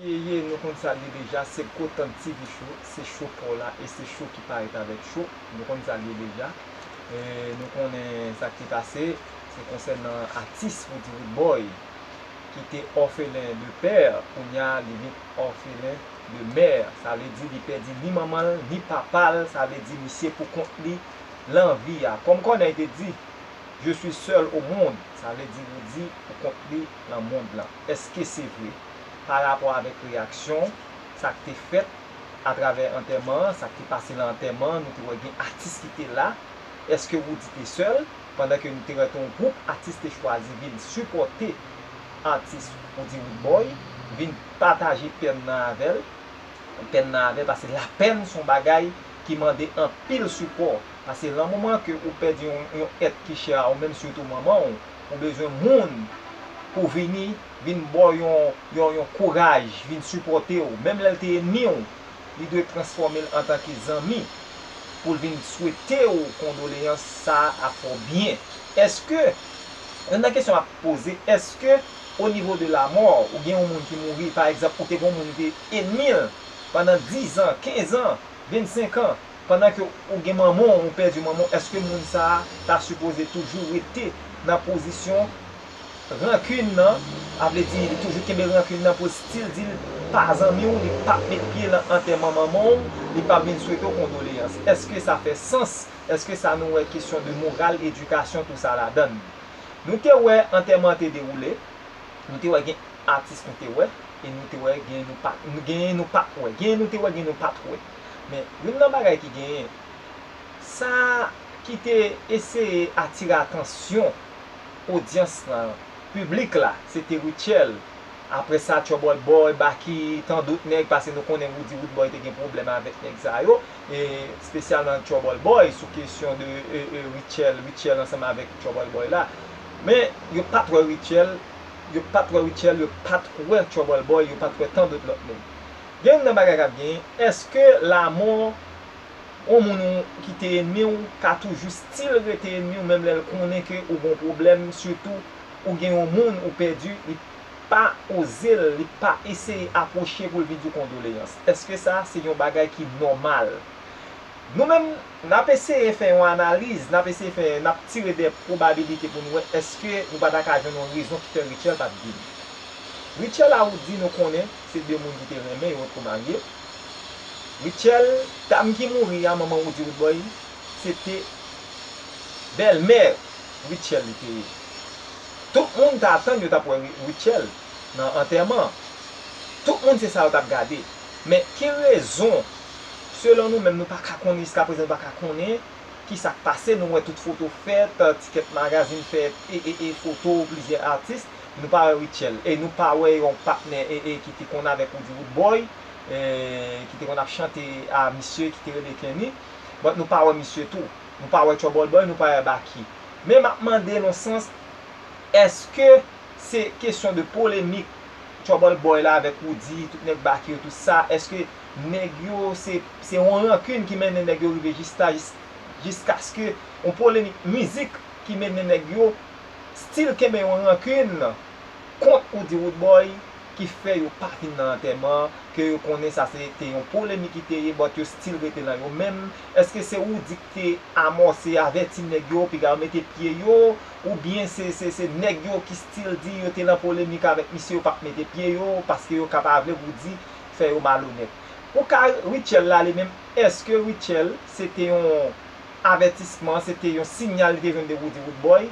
Eyeyeye nou konn sa l ye deja se kotant TV show se show paw la e se show ki parèt avèk show nou konn sa l ye deja nou konnen sa k te pase se konsènan atis Roody Roodboy ki te òfelen de pè kounya li vin òfelen de mè sa vle di li pèdi ni manman l ni papa l sa vle di misye pou kont li lan vi a kòm kònèy te di je suis seul au monde sa vle di Roody pou kont li. nan mond lan. Èske se vre? Pa rapò avèk reyaksyon, sa k te fèt atravè antèman an, sa k te pase nan antèman an, nou te wè gen atis ki te la. Èske Roody te sèl? Pandan ke nou te wè ton gwoup atis te chwazi vin sipòte atis Roody Roodboy, vin pataje pèn nan avè l, pèn nan avè l, pase lapèn s on bagay ki mande anpil sipò. Pase lan moman ke ou pèdi yon èt ki chè a ou menm sitou manman w, ou bezwen moun pou vini, vin ba w yon, yon kouraj, vin sipòte w. Menm lè l te enmi w, li dwe transfòme l antanke zanmi pou l vin swete w kondoleyans sa ap fè w byen. Èske, youn nan kesyon m ap poze, èske o nivo de lamò, ou gen yon moun ki mouri, pa egzanp, ou te gen yon moun ki te enmi l pandan dizan, kenzan, vennsenkan, pandan ke ou gen manman w ou pèdi manman w eske moun sa a ta sipoze toujou rete nan pozisyon rankin nan a vle di li toujou kenbe rankin nan pou si l di l pa zanmi w li pap met pye lan antèman manman w li pap vin swete w kondoleyans eske sa fè sans eske sa nou wè kesyon de moral edikasyon tou sa ladann nou te wè antèman an te dewoule nou te wè gen atis nou te wè e nou te wè gen nou pa genyen nou pat wè genyen nou te wè genyen nou pat wè. Men, youn nan bagay ki genyen, sa ki te eseye atire atansyon odyans lan, piblik la, se te Rutshelle. Apre sa, Trouble Boy, Baky, tandot nèg, pase nou konnen Roody Roodboy te gen pwoblèm avèk nèg sa yo, e spesyalman Trouble Boy, sou kesyon de Rutshelle, Rutshelle ansanm avèk Trouble Boy la. Men, yo pa t wè Rutshelle, yo pa t wè Rutshelle, yo pa t wè Trouble Boy, yo pa t wè tandot lòt moun. Gen youn nan bagay kap genyen, eske lamò yon moun ou ki te enmiw ka toujou stil rete enmiw menm lèl konnen ke ou gon pwoblèm sitou ou gen yon moun ou pèdi li pa ozel li pa eseye apwoche poul vin diw kondoleyans eske sa se yon bagay ki nòmal nou menm nap eseye fè yon analiz nap eseye fè nap tire de pwobabilite pou nou wè eske nou pa ta ka jwenn yon rezon ki fè Rutshelle pat vini Rutshelle a ou di nou konnen Se de moun ki te renmen yo otko marye. Rutshelle, dam ki mouri a manman Roody Roodboy se te bèlmè Rutshelle li te ye. Tout moun ta atann yo tap wè Rutshelle nan antèman an. Tout moun se sa yo tap gade. Men ki rezon selon nou menm nou pa ka konnen jiska prezan nou pa ka konnen ki sak pase nou wè tout foto fèt, tikèt magazin fèt e e e foto plizyè atis. Nou pa wè Rutshelle e nou pa wè yon patnè ee ki te konn avèk Roody Roodboy ee ki te konn ap chante a misye ki te rele Kenny but nou pa wè misye tou. Nou pa wè Trouble Boy, nou pa wè Baky. Men m ap mande n yon sans èske se kesyon de polemik Trouble Boy la avèk Roody, tout nèg Baky yo tout sa, èske nèg yo se se yon rankin ki mennen nèg yo rive jis la jiskaske yon polemik mizik ki mennen nèg yo still kenbe yon rankin kont ou di Roodboy ki fè yo pa vin nan antèman ke yo konnen sa se te yon polemik ki te ye but yo still rete nan yo menm eske se Roody ki te amòse avèti nèg yo piga yo mete pye yo ou byen se se se nèg yo ki still di yo te nan polemik avèk misye yo pap mete pye yo paske yo ka pa vle Roody fè yo malonèt ou ka Rutshelle la li menm eske Rutshelle se te yon avètisman se te yon sinyal li te jwenn de Roody Roodboy,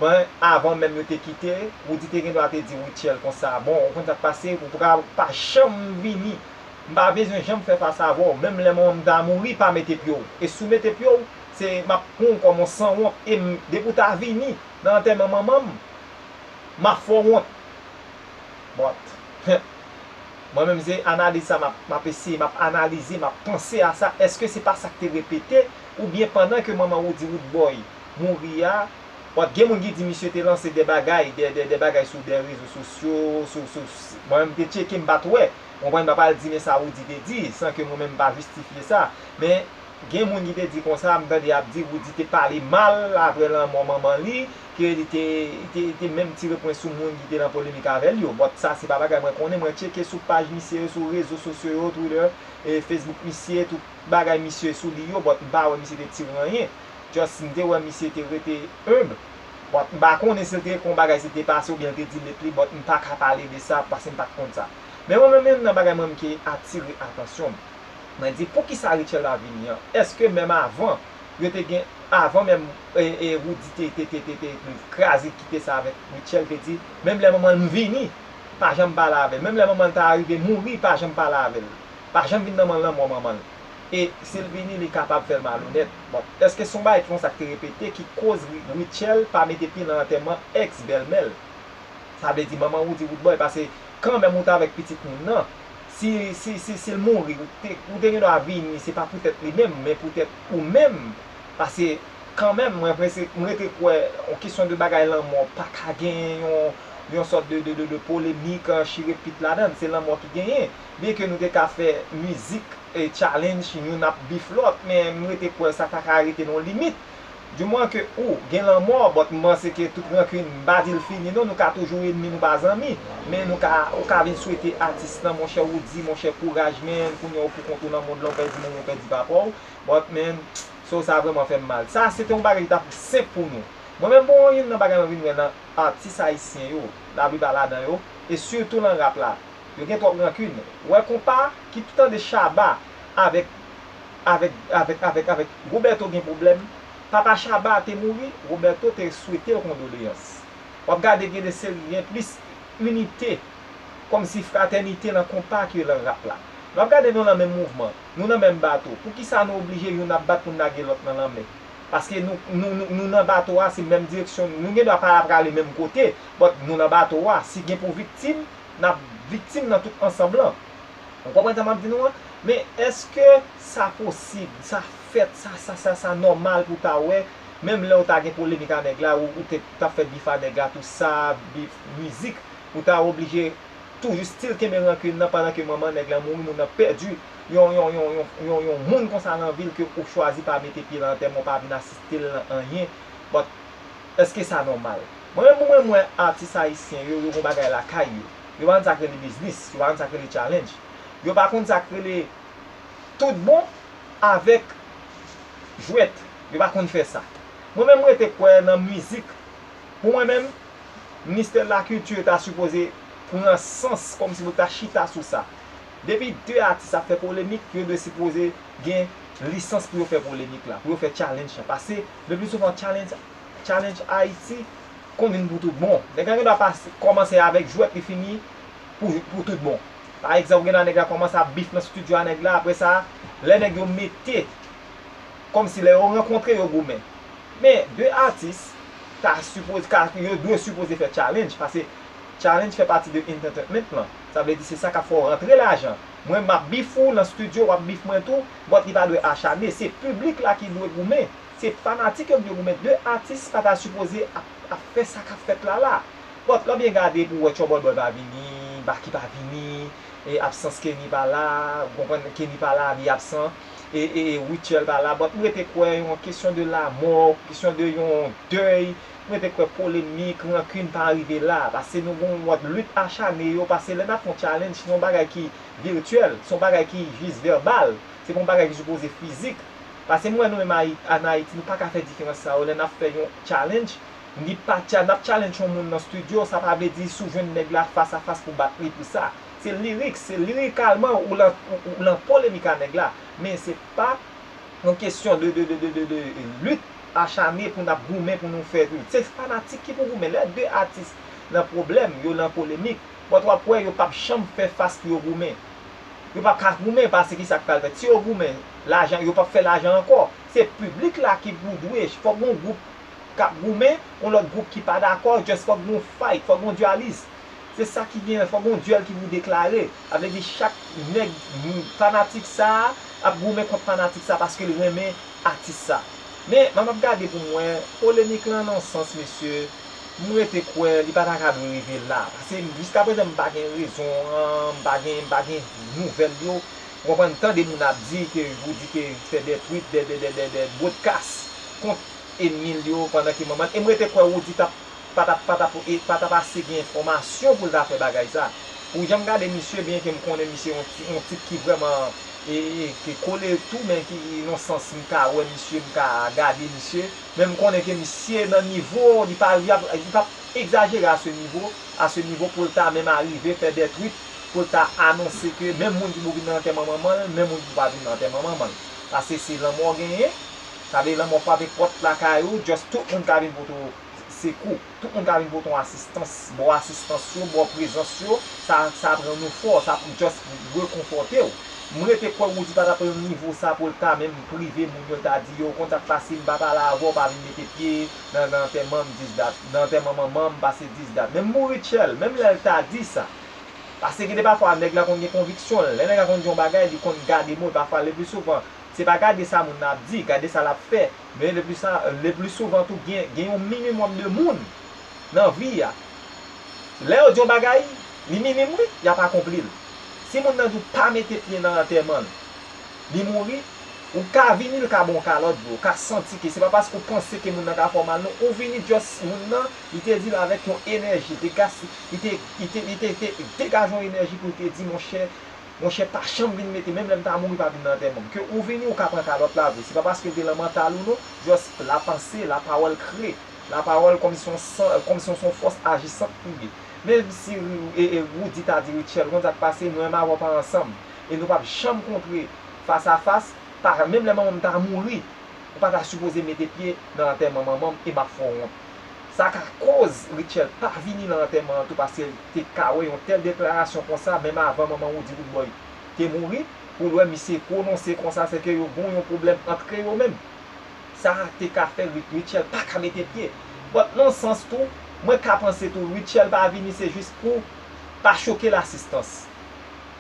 men avan menm yo te kite, Roody te gendwa te di Rutshelle konsa, bon ou konn sa k pase, ou pa pa janm vini, m pa bezwen janm fè fas avè w, menm lè manman m ta mouri pa mete pye w, e si w mete pye w, se m ap pran w kòm yon sanwont, e m depi w ta vini nan antèman manman m, m ap fè w wont. But huh mwen menm se analiz sa map eseye map analize map panse a sa eske se pa sak te repete ou byen pandan ke manman Roody Roodboy mouri a but gen moun ki di misye te lanse de bagay de bagay sou de rezo sosyo sou sou mwen menm te tcheke mpat wè ou konprann mpa pral di men sa Roody te di san ke mwen menm mpa jistifye sa men gen moun ki te di konsa mtande yap di Roody te pale mal aprè lanmò manman li. ke li te li te menm tire pwen sou moun ki te nan polemik avè l yo. Bon, sa se pa bagay mwen konnen, mwen tcheke sou paj misye yo, sou rezo sosyo yo, Twitter, Facebook misye, tout bagay misye sou li yo, but m pa wè misye te tire anyen. Just m te wè misye te rete humble. Bon, m pa konnen si l te kon bagay si l te pase oubyen l te delete li, but m pa ka pale de sa pase m pa t konn sa. Men mwen menm youn nan bagay mwen menm ki atire atansyon m, mwen di poukisa Rutshelle la vini an? Eske menm avan. yo te gen avan menm Roody te kraze kite sa avèk Rutshelle te di menm lè manman l vini pa janm pale avèl menm lè manman l ta arive mouri pa janm pale avèl pa janm vin nan man lanmò manman l e si l vini li kapab fè l malonèt bon èske son bagay konsa ki te repete ki koz Rutshelle pa mete pye nan antèman ex bèlmè l sa vle di manman Roody Roodboy pase kanmèm ou t avèk pitit moun nan Si, si, si, si l mouri, ou te, ou te gen dwa vini, se pa poutèt li menm, men poutèt ou menm, pase, kanmenm, mwen prese, m rete kwè, on kesyon de bagay lanmò pa ka genyen yon, yon sòt de, de, de polemik, chire pit ladan l, se lanmò ki genyen. Byenke nou te ka fè mizik, e challenge youn ap beef lòt, men m rete kwè sa ta ka rete nan yon limit. Du moins ke ou gen lanmò but m panse ke tout rancune m pa di l fini non nou ka toujou enmi nou pa zanmi men nou ka ou ka vin swete atis lan monchè ou di monchè kouraj menn kounya ou poukont ou nan mond lan ou pèdi manman w pèdi papa w but menn so sa vrèman fè m mal sa se te yon bagay ki ta senp pou nou mwen menm bon youn nan bagay mwen vin wè nan atis ayisyen yo la plipa ladan yo e sitou lan rap la yo gen twòp rancune wè konpa ki tande shaba avèk avèk avèk avèk avèk Roberto gen pwoblèm papa Shabba te mouri Roberto te swetel kondoleyans wap gade gen de seri gen plis inite kòmsi fratènite nan konpa ke lan rap la wap gade nou lan menm mouvman nou nan menm bato poukisa nou oblije youn ap bat poun lage lòt nan lanmè paske nou nou nou nan bato a se menm direksyon nou gen dwa pa prale menm kote but nou nan bato a si gen pou viktim nap viktim nan tout ansanb lan Nou konprann sa m ap di nou an? Men, èske sa posib, sa fèt, sa sa sa sa nòmal pou w ta wè, menm lè w ta gen polemik a nèg la, ou ou te t ap fè bif a nèg la tou sa, bif, mizik, ou ta oblije toujou still kenbe rankin nan pandan ke manman nèg la mouri, moun nan pèdi yon yon yon yon yon yon moun konsa lan vi l ke ou chwazi pa mete pye lan antèman, ou pa vin asiste l lan anyen. But, èske sa nòmal? Mwen menm pou mwen m wè atis ayisyen yo, yo gen yon bagay lakay yo. Yo pa konn sa k rele biznis. Yo pa konn sa k rele challenge. Yo pa konn sa k rele tout bon avèk jwèt. Yo pa konn fè sa. Mwen menm m rete kwè nan mizik. Pou mwen menm, Ministè de la Culture ta sipoze pran sans kòm si pou l ta chita sou sa. Depi 2 atis ap fè polemik, yo dwe sipoze gen lisans pou yo fè polemik la, pou yo fè challenge la. Pase, le pli souvan challenge Ayiti. konn vin pou tout bon. Nèg la gen dwa pase kòmanse avèk jwèt li fini pou pou tout bon. Pa egzanp ou gen dwa nèg la kòmanse ap bif nan stidyo a nèg la aprè sa lè nèg yo mete kòm si lè yo rankontre yo goumen. Men 2 atis ta sipoze ka yo dwe sipoze fè challenge pase challenge fè pati de entertainment lan. Sa vle di se sa kap fè w rantre lajan. Mwen map bif ou nan stidyo wap bif mwen tou but li pa dwe achane se piblik la ki dwe goumen. Se fanatik yo k di yo gou men 2 atis pa ta sipoze ap fè sa kap fèt la la. Pòt lan byen gade pou wè Trouble Boy pa vini, Baky pa vini, absans Kenny pa la, ou konprann, Kenny pa la li absan, Rutshelle pa la, but m rete kwè yon kesyon de lamò, kesyon de yon dèy, m rete kwè polemik, rancune pa rive la, pase nou gon yon mòd lit achane yo, pase lè nap fè yon challenge se yon bagay ki virtuel, se yon bagay ki jis verbal, se pa yon bagay ki sipoze fizik. Pase m wè nou menm an Ayiti nou paka fè diferans sa yo lè nap fè yon challenge ni pa tcha nap challenge yon moun nan studio sa pa vle di si w jwenn nèg la fas a fas pou bat li pou sa se lyrics se lirikalman ou lan ou lan polemik a nèg la men se pa yon kesyon de de de de lit achane pou nap goumen pou nou fè se fanatik ki pou goumen lè 2 atis nan pwoblèm yo lan polemik. But wap wè yo pap janm fè fas pou yo goumen. Yo pap ka goumen pase kisa ki pral fèt. Si yo goumen, lajan, yo pap fè lajan ankò. Se piblik la ki pou dwe, fòk gen yon gwoup kap goumen, yon lòt gwoup ki pa dakò, just fòk gen yon fight, fòk gen yon dualis. Se sa ki gen, fòk gen yon duel ki pou deklare. Sa vle di chak nèg, fanatik sa a ap goumen kont fanatik sa a paske l renmen atis sa. Men, m ap gade pou m wè, polemik lan nan yon sans mesye, m rete kwè li pa ta ka dwe rive la pase jiska prezan m pa gen rezon an m pa gen m pa gen nouvèl yo ou konprann m tande moun ap di ke pou di ke fè dè twit dè dè dè dè bwodkas kont enmi l yo pandan ke manman l e m rete kwè Roody tap pa tap pa tap e pa tap ase gen enfòmasyon pou l ta fè bagay sa pou jan m gade misye byen ke m konnen misye yon ti yon tip ki vrèman e e ki kole tou men ki nan sans m ka wè misye m ka gade misye. Men m konnen ke misye nan nivo, li pa li ap, li pap egzajere a se nivo, a se nivo pou l ta menm arive fè dè twit, pou l ta anonse ke menm moun ki pou vin nan antèman manman l, menm moun ki pou pa vin nan antèman manman l. Pase se lanmò genyen, sa vle lanmò frape pòt lakay ou, just tout moun ka vin pote w sekou. Tout moun ka vin pote yon asistans, ba w asistans yo, ba w prezans yo, sa sa ap rann ou fò, sa pou just rekonfòte w. M rete kwè Roody pa ta pran yon nivo sa pou l ka menm prive moun yo l ta di yo ou konn sa k pase m pa pale avè w pa vin mete pye nan nan antèman m dis dat, nan antèman manman m pase dis dat. Menm mouri Tchèl, menm lè l ta di sa. Pase gen de pafwa nèg la konn gen konviksyon l, lè nèg la konn di yon bagay li konn gade mo l pafwa le pli souvan se pa gade sa moun nan ap di, gade sa l ap fè. Men lepli sa, lepli souvan tou gen, gen yon minimòm de moun nan vi a. Lè yo di yon bagay, li minim wi, y ap akonpli l. Si moun nan di w pa mete pye nan antèman l, li mouri, ou ka vini l ka ba w kalòt vre, ou ka santi ke se pa paske ou panse ke moun nan ka fè w mal non, ou vini just moun nan, li te di l avèk yon enèji, li te gas, li te, li te, li te, li te degaje yon enèji pou l te di monchè, Monchè pa chanm vin mete menm lèm ta mouri pa vin nan antèmanm ke ou vini ou ka pran kalòt la vre se pa paskel te lan mantal ou non just la panse la pawòl kre la pawòl kòmsi son san kòmsi yon son fòs ajisant pou ye menmsi Roody ta di Rutshelle ou konn sak pase mwen avèw pa ansanm e nou pap janm kontre fas a fas pa menm lè manmanm ta mouri ou pata sipoze mete pye nan antèman manmanm e map fè w wont. Sa ka koz Rutshelle pa vini lan antèman an tou paskel te ka wè yon tèl deklarasyon konsa menm avan manman Roody Boudboy te mouri poul wè misye pwononse konsa sèke yo gon yon pwoblèm antre yo menm sa te ka fè Rutshelle pa ka mete pye but nan yon sans tou mwen ka panse tou Rutshelle pa vini se jis pou pa chokel asistans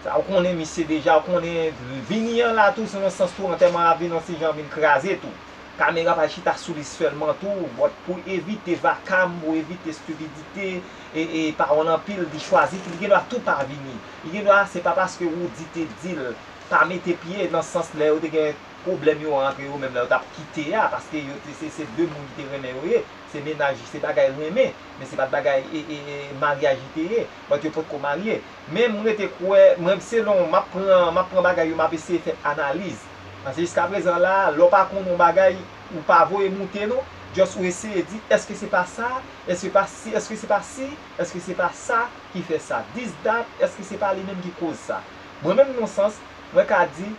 sa ou konnen misye deja ou konnen vini an la tou se yon sans tou antèman an ap vin yon ti jan vin kraze tou. Kamera pa chita sou li sèlman tou, but pou evite vakam, pou evite stupidite, e e pawòl anpil, li chwazi ki li gendwa tou pa vini. Li gendwa se pa paske Roody te di l pa mete pye nan sans lè yo te gen pwoblèm yo antre yo menm lè yo t ap kite a, paske yo te se se 2 moun li te renmen yo ye, se mennaj se bagay renmen, men se pa t bagay e e e maryaj li te ye, but yo potko marye. Men m rete kwè, mwen selon m ap pran m ap pran bagay yo m ap eseye fè analiz. Paske jiska prezan la a, lè w pa konnen yon bagay, ou pa voye moute non, just ou eseye di, èske se pa sa, èske pa si, èske se pa si, èske se pa sa ki fè sa, this, that, èske se pa li menm ki koz sa. Mwen menm non sans, mwen ka di,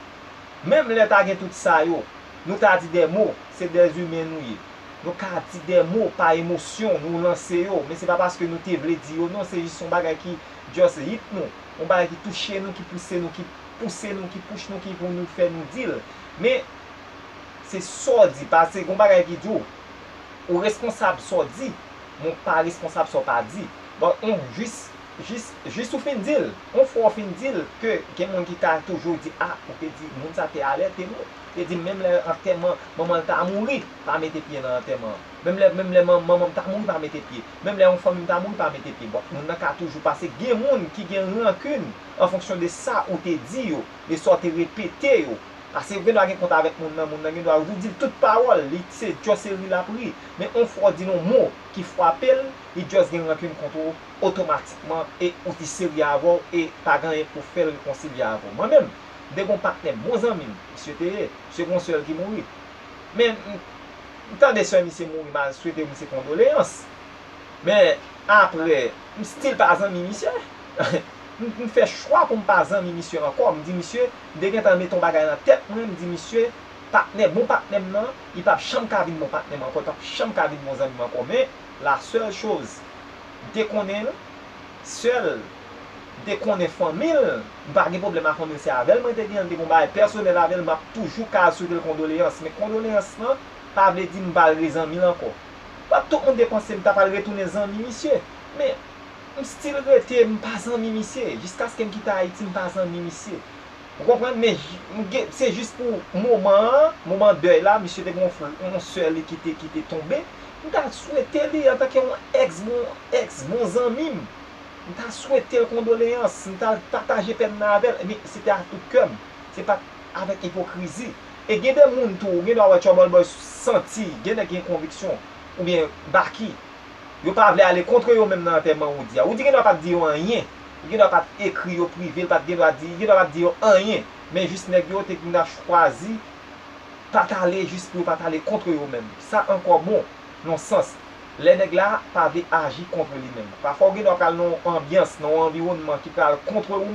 menm lè ta gen tout sa yo, nou ta di des mots, se des humains nou ye. Nou ka di des mots pa emosyon, nou lanse yo, men se pa paske nou te vle di yo non, se jis yon bagay ki just hit nou. yon bagay ki touche nou, ki pouse nou, ki pouse nou, ki pouch nou, ki pou nou fè nou di l. Men, se sa w di, pase gen yon bagay ki di w, ou responsab sa w di, men w pa responsab sa w pa di. Bon, on, jis, jis, jis ou fin di l, on fwa ou fin di l ke gen moun ki ka toujou di, a, ou te di, moun sa te alète nou, te di menm lè antèman manman l ta mouri, pa mete pye nan antèman an. Menm lè, menm lè manman m ta mouri pa mete pye. Menm lè yon fanmi ta mouri pa mete pye bwa. Moun nan ka toujou pase. Gen moun ki gen rankin an fonksyon de sa ou te di yo, de sa ou te repete yo. Pase ou gen dwa gen kont avèk moun nan, moun nan gen dwa ou di l tout pawòl, li se just se ri l ap ri. Men yon fwa ou di l yon mo ki fwape l, li just gen rankin kont ou otomatikman e ou di se ri avè w e pa gen anyen pou fè l rekonsilye avè w. Mwen menm, m te gen yon patnè m, bon zanmi m, misye te ye, misye gen yon sè l ki mouri. Men m tande sè misye mouri m al swete misye kondoleyans men aprè m still pa zanmi misye m fè chwa pou m pa zanmi misye ankò m di misye m te gentan mete yon bagay nan tèt mwen m di misye patnè bon patnè m nan li p ap janm ka vin bon patnè m ankò li p ap janm ka vin bon zanmi m ankò men la sèl choz m te konnen l sèl. m te konnen fanmi l, m pa gen pwoblèm a fanmi l se avè l mwen te gen, m te gen yon bagay pèsonèl avè l m ap toujou ka al swete l kondoleyans men kondoleyans lan pa vle di m pa al re zanmi l ankò pa tout moun te panse m ta pral retounen zanmi misye men m stil rete m pa zanmi misye jiskaske m kite Ayiti m pa zanmi misye ou konprann men m gen se jis pou moman an moman dèy la misye te gen yon frè yon sè li ki te ki te tonbe m ta swete li antanke yon èks bon èks bon zanmi m M ta swete l kondoleyans, m ta al pataje pèn nan avè l, men se te a tout kè m, se pa t avèk ipokrizi. E gen de moun tou, ou gen dwa wè Troubleboy santi gen nèg ki gen konviksyon, oubyen Baky, yo pa vle ale kontre yo menm nan antèman Roody a. Roody gen dwa pa t di yo anyen, li gen dwa pa t ekri yo prive, li pa t gen dwa di, li gen dwa pa t di yo anyen, men jis nèg yo te gnla chwazi pa t ale jis pou yo pa t ale kontre yo menm. Sa ankò bon, nan yon sans. lè nèg la pa vle aji kontre li menm. Pafwa ou gendwa pral nan yon anbyans, nan yon anviwònman ki pral kontre ou menm.